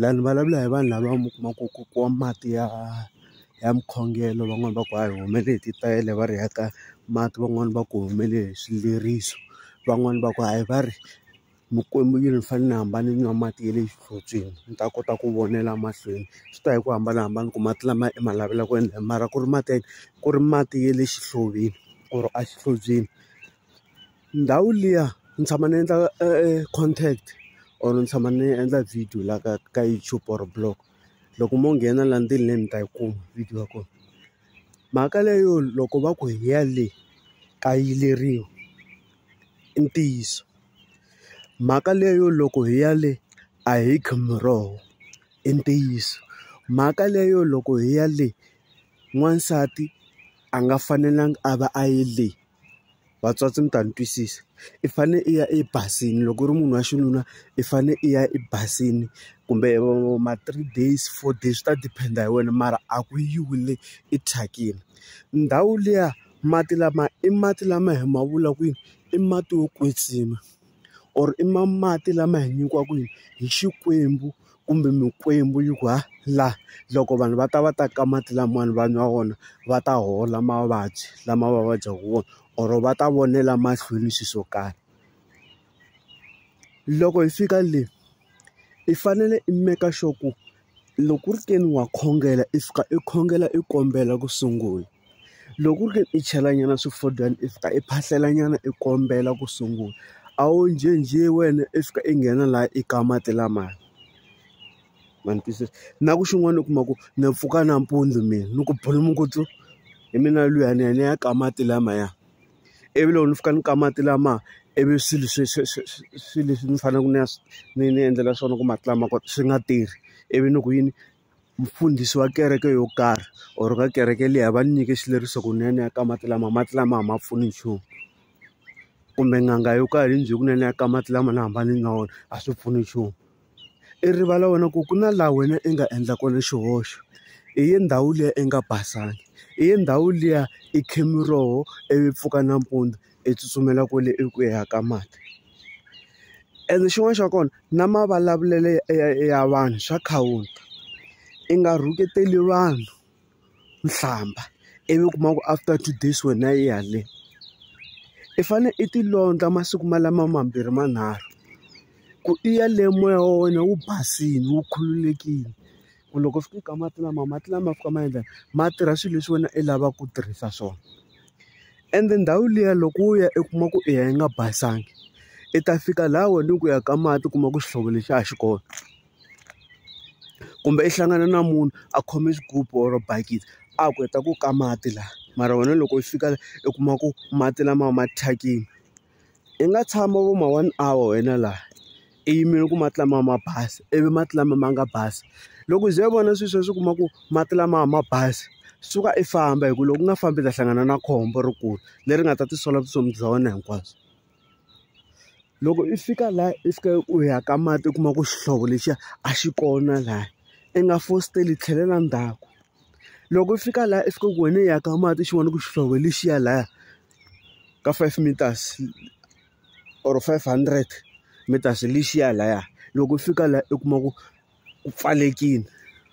la ni vulavula hi vanhu lava mi kuma ku ku ku wa mati ya ya mukhongelo van'wani va ku a hi humele hi titayele va ri ya ka mati van'wani va ku humele hi swileriso van'wani va ku hayi va ri mikwembu yi ni fanele ni hamba ni nwa mati ya le xihlotsweni ni ta kota ku vonela mahlweni swi ta hi ku hambanahambana ku mati lama i ma lavela ku endla mara ku ri mati ya ku ri mati ya le xihloveni or a xihlobyeni. Ndhawu liya ni tshama ni endla content or ni tshama ni endla video la ka ka YouTube or blog loko mo nghena la ndzeni le mi ta yi kuma video ya kona mhaka leyo loko va ku hi ya le ka yiveriwa i ntiyiso mhaka leyo loko hi ya le a hi kha miroho i ntiyiso mhaka leyo loko hi ya le n'wansati a nga fanelanga a va a yi le. vatswatsi mi ta ni twisisa i fane i ya ebazini loko u ri munhu wa xinuna i fane i ya ebazini kumbe ma three days four days swi ta depend hi wena mara a ku yiwi le i thyakini ndhawu liya mati lama i mati lama hi ma vula ku i mati yo kwetsima. or i ma mati lama hi nyikiwaka hi hi Xikwembu kumbe mikwembu yi ku ha la loko vanhu va ta va ta ka mati lamawani va nwa wona va ta hola mavabyi lama va vabyaka wona or va ta vonela mahlweni swilo swo karhi loko hi fika le i fanele i make sure ku. loko ku ri ke ni wa khongela i fika i khongela i kombela ku sungula loko ku ri ke i chelanyana swifodyana i fika i phahlelanyana i kombela ku sungula a wu njhenjhe wena i fika i nghena laha i ka mati lamaya ma ni twisisa na ku xin'wana u kuma ku na pfuka nampundzu mina ni ku bulu mukutsu hi mina luyani ya ni ya ka mati lamaya ivi loko ni fika ni ka mati lama ivi swilo swi swi swi swilo leswi ni faneleke ni ya swi ni ni endlela swona ku mati lama kona swi nga tirhi ivi ni ku yini mfundhisi wa kereke yo karhi or ka kereke liya va ni nyike xileriso ku ni ya ni ya ka mati lama mati lama a ma pfuni nchumu kumbe n'anga yo karhi yi ni byele ku ni ya ni ya ka mati lama ni hamba ni nwa wona a swi pfuni nchumu. i rivala wena ku ku na laha wena i nga endla kona xihoxo i ye ndhawu liya i nga basanga i ye ndhawu liya i khe miroho ivi pfuka nampundzu i tsutsumela kwale eku ya ka mati ene xin'wana xa kona na mavulavulelo ya vanhu swa khawula i nga rhuketeli vanhu. u hlamba ivi u kuma ku after two days wena yi haleni i fanele i ti londla masiku malama mambirhi manharhu ku i ya le moya wa wena wu basile wu khululekile ku loko u fika ka mati lama mati lama fika ma endla ma tirha swilo leswi wena i lavaka ku tirhisa swona ende ndhawu liya loko u ya i kuma ku i ya yi nga basanga i ta fika laha wena ku ya ka mati u kuma ku xihlovo lexi a xi kona. kumbe i hlangana na munhu a khome xigubu or bakiti a ku heta ku ka mati laha mara wena loko u fika i kuma ku mati lamawa ma thyakile i nga tshama vo ma one hour wena laha i yimele ku mati lama ma basa ivi mati lama ma nga basa loko u ze u vona swilo sweswo u kuma ku mati lama ma basa suka i famba hi ku loko u nga fambi u ta hlangana na khombo rikulu leri nga ta tisola vutomi bya wena hinkwabyo. Loko i fika laha i fika u ya ka mati u kuma ku xihlovo lexiya a xi kona laha i nga fositeli tlhelela ndzhaku loko u fika laha i fika ku wena i ya ka mati xin'wana ku xihlovo lexiya lahaya ka five meters or five hundred meters lexiya lahaya loko u fika laha u kuma ku ku pfalelekile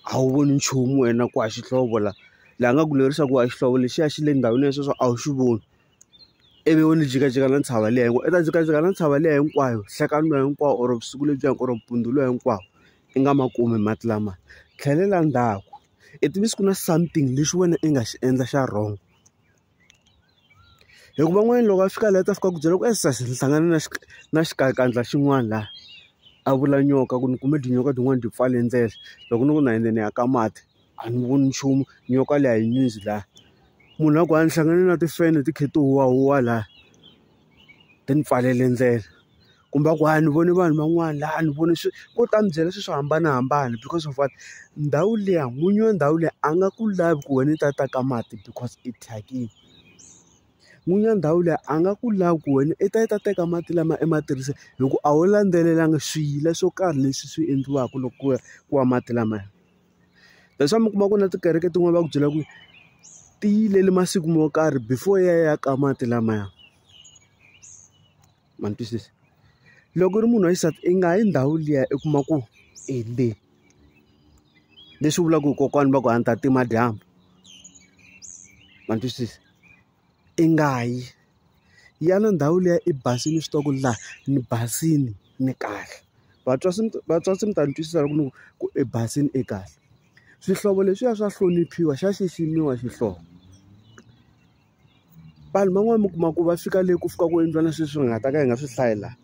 a wu voni nchumu wena ku a xihlovo laha laha nga ku lerisa ku a xihlovo lexiya xi le ndhawini ya sweswo a wu xi voni. ivi u ni jikajika na ntshava liya hinkwayo i ta jikajika na ntshava liya hinkwayo nhlekani luwa hinkwawo or vusiku lebyiya or mpundzu luwa hinkwawo i nga ma kumi mati lamaya tlhelela ndzhaku i tivisa ku na something lexi wena i nga xi endla xa wrong hikuva van'wana loko a fika laha ta fika ku byela ku e sesi ni hlangane na na xikanyakandza xin'wana laha a vula nyoka ku ni kume tinyoka tin'wani ti pfale ndlela loko ni ku na yindze ni ya ka mati. a ni voni nchumu nyoka leyi a yi nyundzi laha munhu a ku a ni hlangane na timfenhe ti kha ti huwahuwa laha ti ni pfalele ndlela kumbe a ku a ni vone vanhu van'wana laha a ni vone swi ko ta ni byela swilo swo hambanahambana because of what ndhawu liya n'winyi wa ndhawu liya a nga ku lavi ku wena u ta ta ka mati because i thyakile n'winyi wa ndhawu liya a nga ku lavi ku wena i ta i ta teka mati lama i ma tirhisa hi ku a wu landzelelanga swiyila swo karhi leswi swi endliwaka loko ku ya ku wa mati lamaya. That's why mi kuma ku na tikereke tin'wani va ku byela ku ti yilele masiku mo karhi before yi ya yi ya ka mati lamaya. Ma ni twisisa? Loko u ri munhu wa xisati i nga yi ndhawu liya i kuma ku i le. Leswi vulaka ku kokwani va ku a ni ta tima dyambu. Ma ni twisisa? i nga yi. Ya na ndhawu liya i basile u swi tiva ku ri laha ni basile, ni kahle. Vatswari se vatswari se mi ta ni twisisa loko ni ku ku i basile i kahle. Swihlovo leswiya swa hloniphiwa, xa xiximiwa xihlovo. Vanhu van'wani mi kuma ku va fika le ku fika ku endliwa na swilo leswi hi nga ta ka hi nga swi hlayi laha.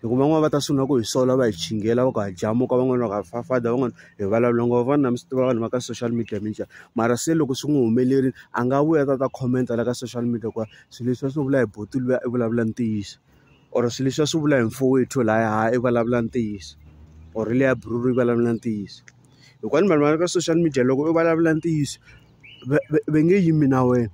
hikuva van'wana va ta sungula ku hi sola va hi chingela va ku ha jamuka van'wana va ku ha fafada van'wana hi vulavula ngo vona mi swi tiva vanhu va ka social media mi njhani mara se loko swi n'wi humelerile a nga vuya ta ta comment-a la ka social media ku swilo leswi va swi vula hi buti luya i vulavula ntiyiso or swilo leswi va swi vula hi mfowethu laya ha i vulavula ntiyiso or le ya bruru i vulavula ntiyiso hikuva ni vanhu va ka social media loko i vulavula ntiyiso va nge yimi na wena.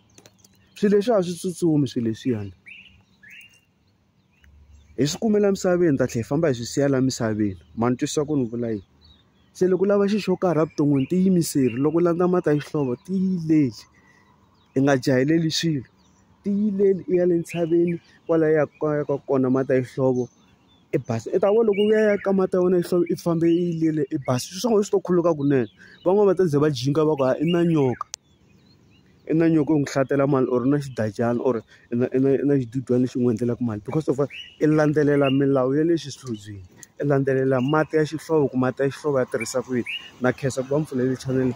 Swilo leswiya a swi tsutsumi swilo leswiyani. Hi swi kumela emisaveni hi ta tlhela hi famba hi swi siya laha misaveni. Ma ni twisisa ku ni vula yini? Se loko u lava xilo xo karhi evuton'wini tiyimiseli, loko u landza mhaka ya xihlovo tiyileli. I nga jahileli swilo, tiyileli i ya le ntshaveni kwala u yaka u yaka kona mhaka ya xihlovo i basa. I ta vona loko u ya ya ka mhaka ya wena ya xihlovo i famba i yiyele i basa, swilo swa wena swi to khuluka kunene. Van'wani va ta ze va jika va ku hayi i na nyoka. i na nyiko n'wi hlatela mali or na xigadyana or i na i na i na xidudyana lexi n'wi endlelaka mali because of i landzelela milawu ya le xihlobyeni i landzelela mati ya xihlovo ku mati ya xihlovo ya tirhisa ku yini na khensa ku va mi pfulele chanele .